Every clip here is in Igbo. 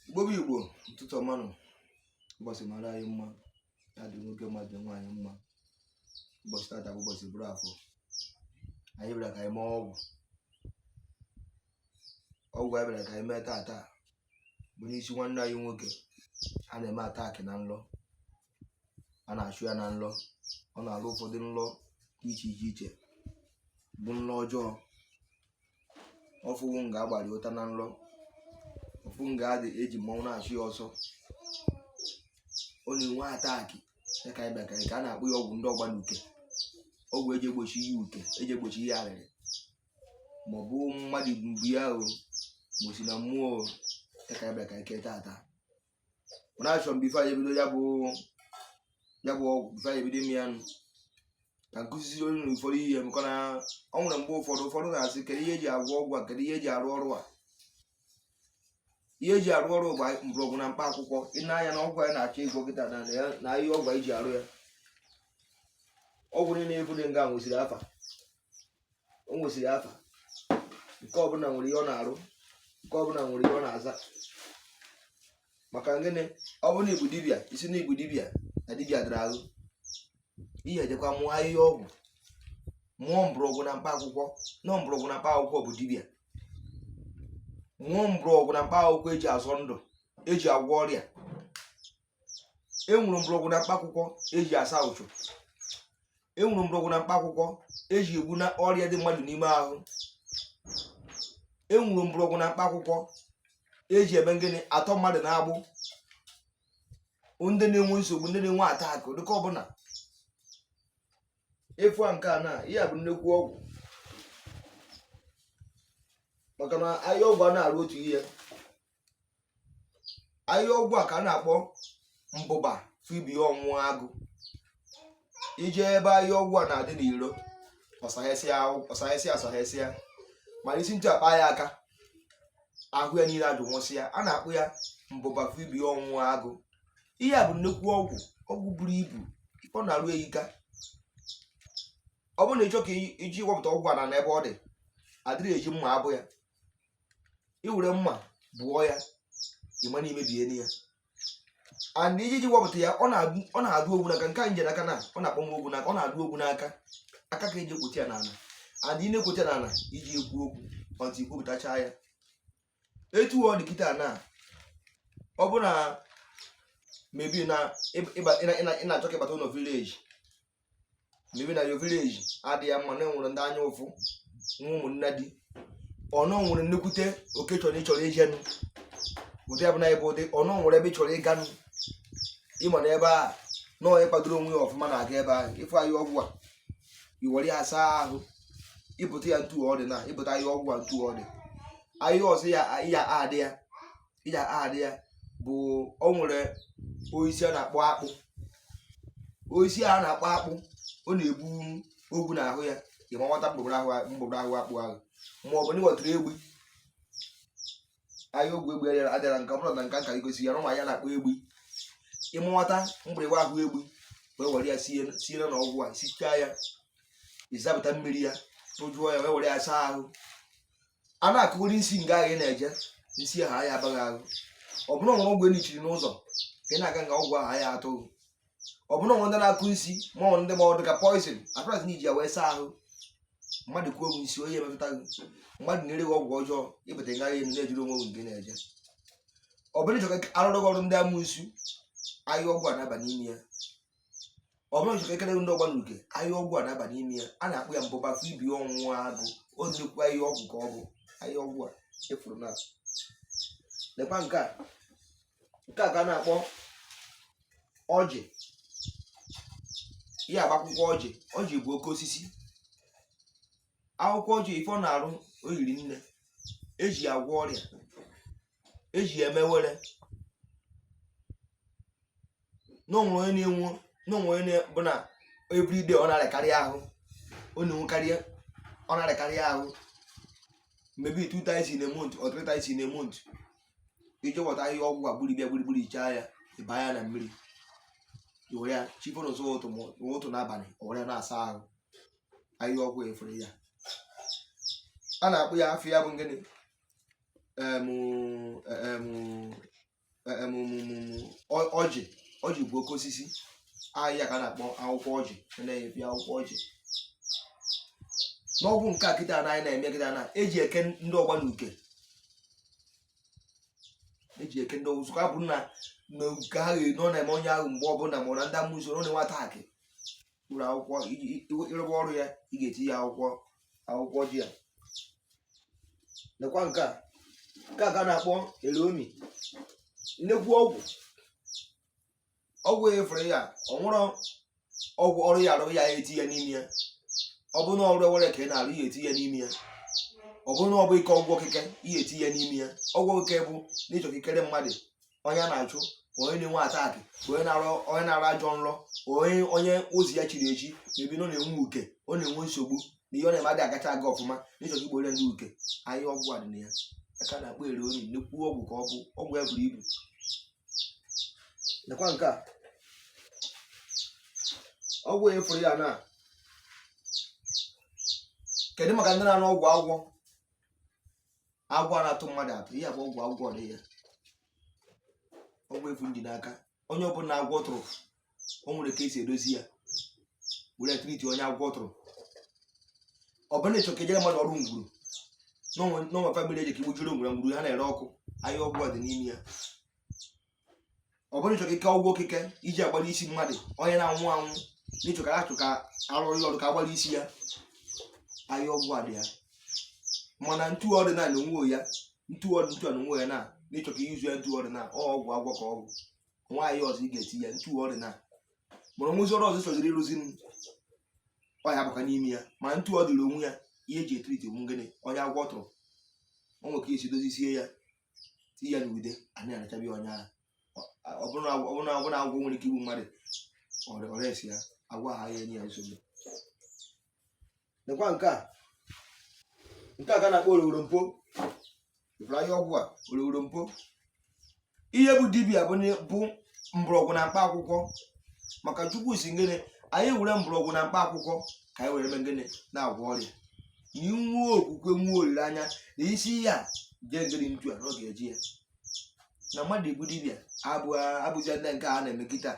igbo bụ igbo ụtụtụ ọma nụ ụbọchị mara anyị mma ya dị nwoke mma dị nwaanyị mma ụbọchị tata bụ ụbọchị bụrụ afọ anyị bịara ka anyị mee ọgwụ ọgwụ anyị bịara ka anyị mee tata bụ n'isi nwanne anyị nwoke a na-eme attack na nlọ a na-achụ ya na nlọ ọ na-alụ ụfọdụ nlọ dị iche iche iche bụ nlọ ọjọọ ọ fụ nga agbara ya ụta na nlọ ọ fụ nga adị eji mmọnwụ na-achụ ya ọsọ ọ na-enwe attack ya ka anyị bịa ka anyị ka a na-akpọ ya ọgwụ ndị ọgba n'uke ọgwụ eji egbochi ihe uke eji egbochi ihe arịrị ma ọ bụ mmadụ mgbu ya o ma o si na mmụọ o ya ka anyị bịa ka anyị kee tata mana achọ m before anyị ebido ya bụ ya bụ ọgwụ before anyị ebido ime ya nụ ka m kuzisiere unu ụfọdụ ihe maka na ọ nwere mgbe ụfọdụ ụfọdụ na-asị kedu ihe eji agwọ ọgwụ a kedu ihe eji arụ ọrụ a ihe eji arụ ọrụ bụ mgbọrọgwụ na mkpa akwụkwọ i nee anya na ọgwụ anyị na-achọ ịgwọ kịta na ya na ihe ọgwụ anyị ji arụ ya ọgwụ niile ebu dị nga nwesịrị afa o nwesịrị afa nke ọbụla nwere ihe ọ na-arụ nke ọbụla nwere ihe ọ na-aza maka gịnị ọ bụrụ na ị bụ dibịa ị sị na ị bụ dibịa na dibịa dara ahụ ị ya-ejekwa mụọ ahịhịa ọgwụ mụọ mgbọrọgwụ na mkpa akwụkwọ na ọ mgbọrọgwụ na mkpa akwụkwọ bụ dibịa mụọ mgbọrọgwụ na mkpa akwụkwọ eji azọ ndụ eji agwọ ọrịa enwere mgbọrọgwụ na mkpa akwụkwọ eji asa ụchụ enwere mgbọrọgwụ na mkpa akwụkwọ eji egbu na ọrịa dị mmadụ n'ime ahụ enwere mgbọrọgwụ na mkpa akwụkwọ eji eme ngịnị atọ mmadụ n'agbụ ndị na-enwe nsogbu ndị na-enwe attack dịka ọ bụ na ị fụ nke a na ihe a bụ nnekwu ọgwụ maka na ahịhịa ọgwụ a na-arụ otu ihe ahịhịa ọgwụ a ka a na-akpọ mbụba fụ ibe ya ọnwụ agụ i je ebe ahịhịa ọgwụ a na-adị n'iro ọ sahesịa ọ sahesịa ọ sahesịa mana i si etu a kpa ya aka ahụ ya niile ajụ nwụsịa a na-akpọ ya mbụba fụ ibe ya ọnwụ agụ ihe a bụ nnukwu ọgwụ ọgwụ buru ibu ọ na-arụ eyika ọ bụrụ na ị chọ ka i ji wepụta ọgwụ a na n'ebe ọ dị adịrị eji mma abụ ya i were mma bụọ ya ị ma na i mebie ya and iji ji wepụta ya ọ na-adụ ogwu n'aka nke a m ji n'aka na ọ na-akpọ m ogwu n'aka ọ na-adụ ogwu n'aka aka ka eji ekwote ya n'ala and ị na-ekwote ya n'ala iji ekwu okwu until i kwopụtacha ya etu ọ dị kịta na ọ bụ na maybe na ị na-achọ ka ị bata ụlọ village maybe na your village adịghị mma na enwere ndị anya ụfụ nwee ụmụnna di ọnụ nwere nnukwute occasion ị chọrọ ijenụ ụdị abụla ebe ụdị ọnụ nwere ebe ị chọrọ ịganụ ị ma na ebe a na onye kwadoro onwe ya ọfụma na-aga ebe ahụ ịfụ ahịhịa ọgwụ a i were ya saa ahụ ịpụta ya ntu ọdị na ịpụta ya ọgwụ a ntu ọdị ahịa ọzọ ya ya adị ya iji adị ya bụ o nwere osisi a na-akpọ akpụ osisi a na-akpọ akpụ ọ na-ebu ogwu n'ahụ ya ị ma nwata mgbugbo ahụ mgbugbo ahụ akpụ ahụ ma ọ bụ na ị ghọtara egbu ahịhịa ọgwụ egbu adịra adịra nke ọ bụla na nka nka igosi ya na ụmụ ya na-akpọ egbu ị ma nwata mgbịrịgba ahụ egbu wee were ya sie sie na ọgwụ a sichaa ya ị zapụta mmiri ya tụjụọ ya wee were ya saa ahụ a na-akọgori nsi nga ahụ ị na-eje nsi ahụ a ya aba gị ahụ ọ bụ na o nwere ọgwụ e nichiri n'ụzọ ka ị na-aga nga ọgwụ ahụ a ya atụ gị ọ bụ na o nwere ndị na-akọ nsi ma ọ ndị ma ọ dị ka poison atụras na iji ya wee saa ahụ mmadụ kwuo ọgwụ nsi onye emetụta gị mmadụ na-ere gị ọgwụ ọjọọ ị bata nga ahụ na-ejiri onwe gị nke na-eje ọ bụ na ị chọ ka a rụọrọ gị ọrụ ndị amụsu ahịhịa ọgwụ a na-aba n'ime ya ọ bụrụ n'ịchọ ikekele ndị ọgba n'uke ahịhịa ọgwụ a na-aba n'ime ya a na-akpọ ya mbụba afọ ibi ọnwụ agụ o nnukwu ahịhịa ọgwụ ka ọ bụ ahịhịa ọgwụ a efuru na lekwa nke a nke a ka a na-akpọ ọjị ya bụ akwụkwọ ọjị ọjị bụ oke osisi akwụkwọ ọjị ife ọ na-arụ o yiri nne e ji ya agwọ ọrịa e ji ya eme were na o nwee onye na-enwu na o nwee onye bụ na everyday ọ na-arịakarị ahụ ọ na-enwekarị ọ na-arịakarị ahụ maybe two times in a month or three times in a month i je wọta ahịhịa ọgwụ a gburie ya gburugburu ichaa ya ịba ya na mmiri were ya chi fo n'ụzọ ụtụtụ n'abalị o were ya na-asa ahụ ahịhịa ọgwụ efere ya a na-akpọ ya afa ya bụ ngịnị ọjị ọjị bụ oke osisi ahịhịa ka a na-akpọ akwụkwọ ọjị na-ebi akwụkwọ ọjị n'ọgwụ nke a kịta na anyị na-eme kịta na e ji eke ndị ọgba na uke e ji eke ndị ọgwụ zụka bụ na uke ahụ nọ na-eme onye ahụ mgbe ọ bụla ma na ndị amụsu ọ na-enwe attack ụlọ akwụkwọ ịrụba ọrụ ya ị ga-etinye akwụkwọ akwụkwọ ọjị a lekwa nke a nke a ka a na-akpọ elomi nnekwu ọgwụ ọgwụ efere ya o nwere ọgwụ ọrụ ị ya-arụ i ya-etinye n'ime ya ọ bụrụ na ọrụ ewere ka ị na-arụ i ya-etinye n'ime ya ọ bụrụ na ọ bụ ike ọgwụ okike i ya-etinye n'ime ya ọgwụ okike bụ n'ịchọ ikekere mmadụ onye na-achụ onye na-enwe attack onye na-arọ onye na-arọ ajọ nrọ onye onye ụzọ ya chiri echi maybe na ọ na-enwe uke ọ na-enwe nsogbu na ihe ọ na-eme adịghị agacha aga ọfụma na ịchọta igbo onye ndị uke ahịhịa ọgwụ a dị na ya aka na-akpọ ere onye nnukwu ọgwụ ka ọ bụ ọgwụ a buru ibu nekwa nke a ọgwụ onye fụrụ ya na kedu maka ndị na-arụ ọgwụ agwọ agwọ na-atụ mmadụ atụ ihe bụ ọgwụ agwọ dị ya ọgwụ efu ndị n'aka onye ọbụla agwọ tụrụ o nwere ka esi edozi ya were treat onye agwọ tụrụ ọ bụrụ na ịchọ ka ejere mmadụ ọrụ ngwuru n'onwe family eji ka igbujiri ngwuru ngwuru ha na-ere ọkụ ahịhịa ọgwụ dị n'ime ya ọ bụrụ ịchọ ka ike ọgwụ okike iji agbara isi mmadụ onye na-anwụ anwụ n'ịchọ ka achụ ka arụrụ ya ọrụ ka agbara isi ya ahịhịa ọgwụ a dị ya mana ntu ọdịnala onwe ya ntu ọdị ntu ọdị onwe ya na n'ịchọ ka izu ya ntu ọdịnala ọ ọgwụ agwọ ka ọgwụ nwaanyị ọzọ ị ga-eti ya ntu ọdịnala mụrụ nwụzi ọrụ ọzọ sọziri ịrụzi m ọ ya bụkwa n'ime ya ma ntu ọ dịrị onwe ya ihe eji e-treat onwe gịnị onye agwọ tụrụ o nwere ka esi dozisie ya tinye ya n'ude anyị a na-achabi onye ahụ ọ bụrụ na agwọ- ọ bụrụ na ọ bụrụ na agwọ nwere ike igbu mmadụ ọrịa ọrịa esi ya agwọ ahụ ya enye ya nsogbu nekwa nke a nke a ka a na-akpọ oroworo mpo ịfụrụ ahịhịa ọgwụ a oroworo mpo ihe bụ dibịa bụ na- bụ mgbọrọgwụ na mkpa akwụkwọ maka chukwu sị gịnị anyị were mgbọrọgwụ na mkpa akwụkwọ ka anyị were mee gịnị na-agwọ ọrịa ihe nwa okwukwe nwa olileanya na isi ihe a ga-egere ntu a na ọ ga-eji ya na mmadụ ịbụ dibịa abụja ndị nke a na-eme kịta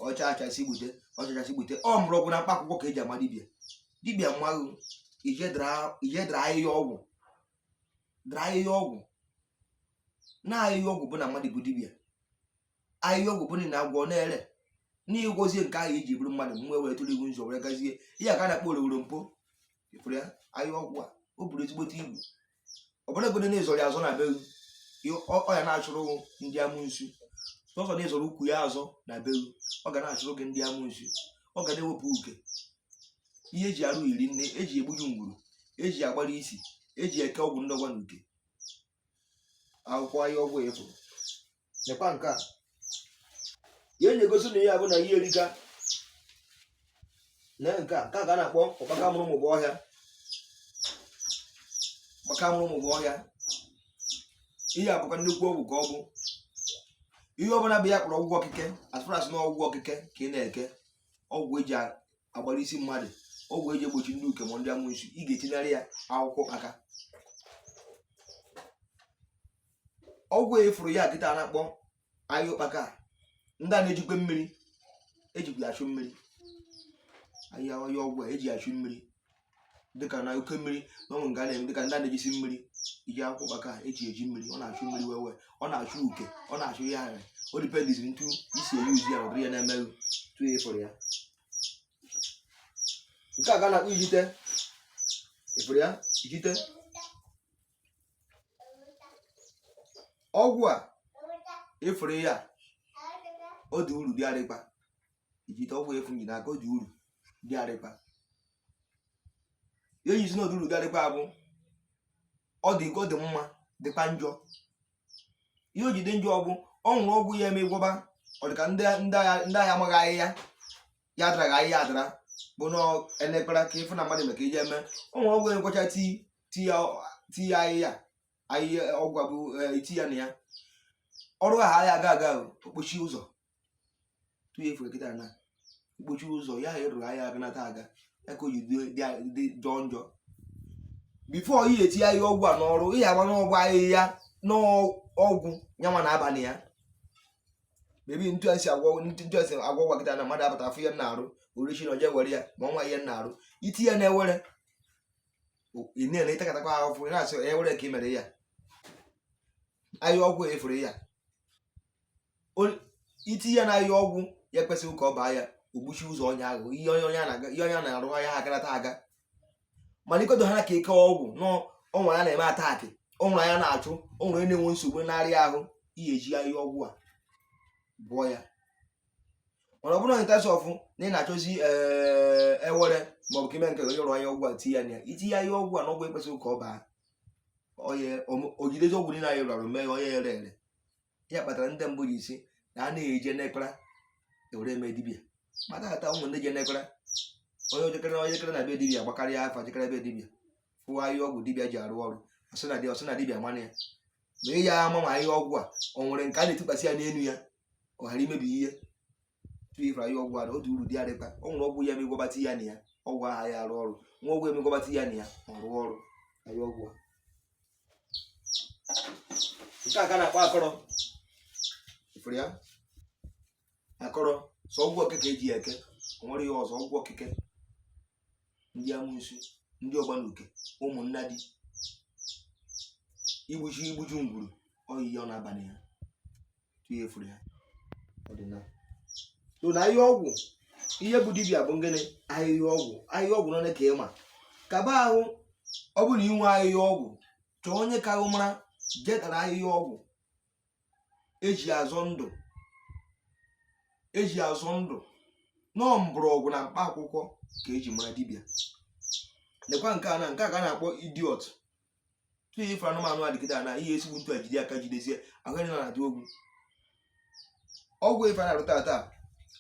ọcha achasị gbute ọcha achasị gbute mgbọrọgwụ na mkpa akwụkwọ ka eji ama dibịa dibịa mmaghụ ije dara ahịhịa ọgwụ dara ahịhịa ọgwụ na ahịhịa ọgwụ bụ na mmadụ bụ dibịa ahịhịa ọgwụ bụ na agwọ na-ere n'ịgwọzie nke ahụ iji bụrụ mmadụ mgbe were tụrụ iwu nzọ were gazie ihe a ka a na-akpọ oroworo mpo ịfụrụ ya ahịhịa ọgwụ a o buru ezigbote ibu ọ bụrụgodu na ezọrọ ya azọ na be ọ ya na-achụrụ ndị amụnsu sọsọ na ezọrọ ukwu ya azọ na be ọ ga na-achụrụ gị ndị amụnsu ọ ga na-ewepụ uke ihe eji arụ iri nne eji egbuju ngwuru eji agbara isi eji eke ọgwụ ndọgwa na uke akwụkwọ ahịhịa ọgwụ efu nekwa nke a ya enye gosi na ihe a bụ na ihe erika na nke a nke a ka a na-akpọ ọkpaka mụrụ mụbụ ọhịa ọkpaka mụrụ mụbụ ọhịa ihe a bụkwa nnukwu ọgwụ ka ọ bụ ihe ọbụla bụ ihe akpọrọ ọgwụ okike as far as na ọgwụ okike ka ị na-eke ọgwụ eji agbara isi mmadụ ọgwụ eji egbochi ndị uke ma ndị amụnsu ị ga-etinyere ya akwụkwọ aka ọgwụ ị fụrụ ya kịta na-akpọ ahịhịa ụkpaka ndị a na-ejikwa mmiri eji achụ mmiri ahịhịa ọgwụ a eji achụ mmiri dịka na oke mmiri na ọnwụ nga na-eme dịka ndị a na-ejisi mmiri iji akwụkwọ ụkpaka eji eji mmiri ọ na-achụ mmiri wewe ọ na-achụ uke ọ na-achụ ihe ahụ o depends ntu i si e-use ya ụdịrị ya na-emeghị tu ya ị fụrụ ya nke a ka a na-akpọ ijite ị fụrụ ya ijite ọgwụ a ị fụrụ ya ọ dị uru dịgharịkwa ijite ọgwụ ị fụ m ji n'aka ọ dị uru dịgharịkwa ihe e ji sị na ọ dị uru dịgharịkwa bụ ọ dị ọ dị mma dịkwa njọ ihe o ji dị njọ ọgwụ o nwere ọgwụ ya eme gwọba ọ dị ka ndị ndị agha ndị agha amaghị ahịhịa ya adaraghị ahịhịa adara bụ na elekpara ka ị fụ na mmadụ maka iji eme o nwere ọgwụ ya ngwọcha tii tinye ahịhịa ahịhịa ọgwụ a bụ e ti ya na ya ọrụ ahụ ahịa aga aga o kpochi ụzọ tụnye ị fụ kịta na o kpochi ụzọ ya ha ịrụrụ ahịa aga nata aga ya ka o ji dị jọọ njọ before ị ga-eti ahịhịa ọgwụ a n'ọrụ ị ga-agba n'ọgwụ ahịhịa n'ọgwụ nyanwa na abalị ya bebi ntu esi agwọ ntu esi agwọ gwa kịta na mmadụ abata afụ ihe na-arụ orichi na oje were ya ma o nwe ihe na-arụ i ti ya na-ewere ị na-ele ịtakatakwa ahụfụ ị na-asị onye were ka ị mere ya ahịhịa ọgwụ ị fụrụ ya O- i ti ya na ahịhịa ọgwụ ekwesịghị ka ọ baa ya o gbuchi ụzọ onye ahụ ihe onye onye a na-aga ihe onye a na-arụ ahịa ha agarata aga mana ikodo ha ka ike ọgwụ na o nwere ihe na-eme attack o nwere ihe na-achụ o nwere ihe na-enwe nsogbu narị ahụ ihe eji ahịhịa ọgwụ a bụ ya mana ọ bụrụ na ntas ọfụ na ị na-achọzi eh, ewere maọbụ ka ime nke onye rụọ ya ọgwụ a tinye ya na ya itinye ya ọgwụ a na ọgwụ ekwesịghị ka ọ baa onye o jidezi ọgwụ niile anyị rụrụ mee ya onye ere ere ya kpatara ndị mbụ ji si na a na-eje n'ekpara ewere eme dibia mata ata ụmụ ndị je n'ekpara onye o jekere onye jekere na be dibia gbakarịa afa jekere be dibia fụwa ihe ọgwụ dibia ji arụ ọrụ ọ sị na dibia mana ya ma ị ya ama ma ihe ọgwụ a ọ nwere nke a na-etikwasị ya n'elu ya ọ ghara imebi ihe tupu ị fụrụ ya ọgwụ ada otu uru dị adịta ọ nwere ọgwụ ya eme gwọbata ya na ya ọgwụ aha ya arụ ọrụ o nwere ọgwụ eme gwọbata ya na ya ọ rụọ ọrụ ahịhịa ọgwụ nke a ka na-akpọ akọrọ ị fụrụ ya akọrọ sọ ọgwụ okeke eji ya eke o nwere ihe ọzọ ọgwụ okeke ndị amusu ndị ọgbanuke ụmụnnadi igbuju igbuju ngwuru oyiyi ọ na-abalị ha ihe furu ya ọdịnala so na ahịhịa ọgwụ ihe bụ dibịa bụ ngịnị ahịhịa ọgwụ ahịhịa ọgwụ nọ ka ịma kaba ahụ ọ bụrụ inwe ahịhịa ọgwụ chọọ onye ka ahụ mara jetara ahịhịa ọgwụ eji azọ ndụ eji azọ ndụ na ọ mgbọrọgwụ na mkpa akwụkwọ ka eji mara dibịa lekwa nke a na nke a ka a na-akpọ idiọtụ ife anụmanụ adịgide na ihe esigbu ntu a jide aka jidesie ahụ ya na-adị ogwu ogwu ife a na-arụta ata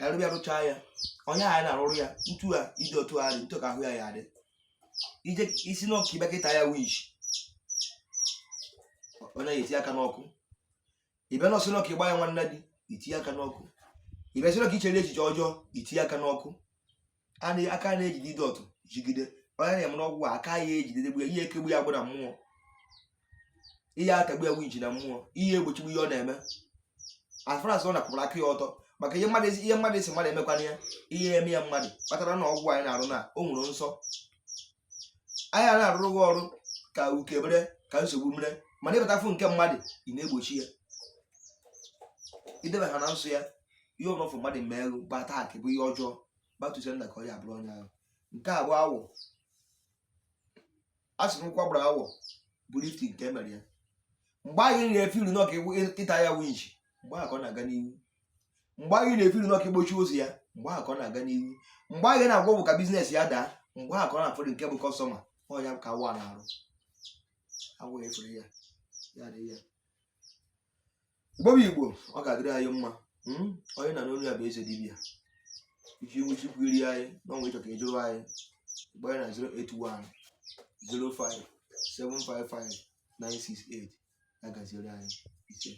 a rụbe ya rụchaa ya onye a na-arụrụ ya ntu a idiọtụ a dị ntu ka ahụ ya ya adị ije sị na ọ ka ị bịa ka ị ta ya witch ọ na-eti aka n'ọkụ ị bịa na-asị na ọ ka ịgba ya nwannadi itinye aka n'ọkụ ị bịa sị na ọ ka ichere echiche ọjọọ itinye aka n'ọkụ a na- aka na-ejide idiọtụ jigide onye na-eme n'ọgwụ a, aka ya ejidede gbu ya ihe ekegbu ya bụ na mmụọ ihe atagbu ya iji na mmụọ ihe egbochigbu ihe ọ na-eme as far as ọ napụrụ aka ya ọtọ maka ihe mmadụ ihe mmadụ esi mmadụ emekwana ya ihe eme ya mmadụ kpatara na ọgwụ anyị na-arụ na o nwere nsọ anyị a na-arụrụ gị ọrụ ka uke mere ka nsogbu mere mana ịbatafụ nke mmadụ ị na-egbochi ya idebe ha na nsọ ya ihe ọbụla fụ mmadụ mee ego bụ attack bụ ihe ọjọọ gbatụzie nna ka ọ ya abụrụ onye ahụ nke a bụ awọ a sị na ụkwụ a gbara awọ bụ lifting nke emere ya mgbe anyị na-efiri na ọ ka ịta ya winchi mgbe ahụ ka ọ na-aga n'ihu mgbe anyị na-efiri na ọ ka igbochi ụzọ ya mgbe ahụ ka ọ na-aga n'ihu mgbe anyị na-agwa bụ ka business ya daa mgbe ahụ ka ọ na-afọdụ nke bụ customer ọ ya ka awọ a na-arụ awa efere ya ya dị ya Igbo bụ Igbo ọ ga-adịrị anyị mma hmm? onye ị na-anụ olu ya bụ eze dibia iji iwu chukwu iri anyị n'ọnwa ịchọ ka ịjụrụ anyị gbaa na 081 05 755 968 ya gaziere anyị isee